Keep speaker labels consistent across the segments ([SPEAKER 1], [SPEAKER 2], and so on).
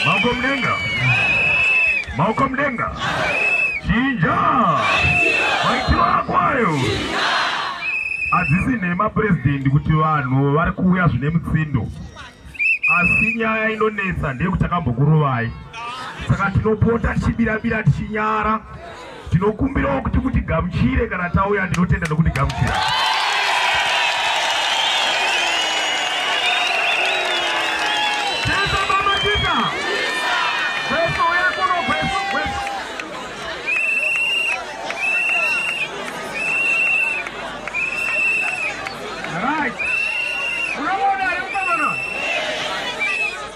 [SPEAKER 1] Maoko mudenga. Maoko mudenga. Chinja. Maitiro ako ayo. Hadzisi nhema president kuti vanhu vari kuuya zvine mutsindo. Asi nyaya inonetsa ndeyekuti takambokurovai. Saka tinopota tichibirabira tichinyara. Tinokumbirawo kuti mutigamuchire kana tauya ndinotenda nokutigamuchira.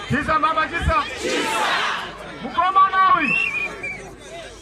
[SPEAKER 1] Chisa mama chisa. Chisa. Mukoma nawi.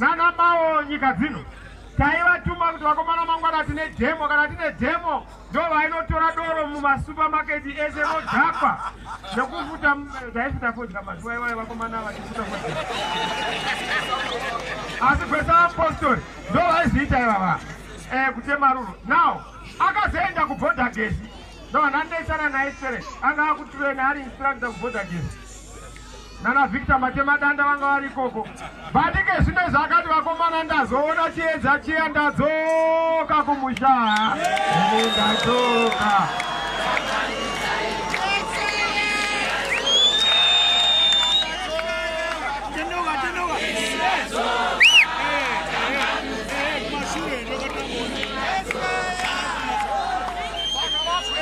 [SPEAKER 1] nana mawo nyika dzino taivatuma kuti vakomana mangwana tine demo kana tine demo ndo vainotora doro mumasupermaketi ese nodhakwa nekufuta taifuta fodya mazuva iwayo vakomana vachifuta fodya asi kwese vapostori ndo vaizoita ivava eh, kutema ruro now akazoenda kubhodha gesi ndo vananetsana naye sere anga akutirena ari instructor kubhodha gesi nana Victor Matemadanda vanga vari ikoko vatike zvine zvakati vakomana ndazoona chiedza chiya ndadzoka kumusha ndadzoka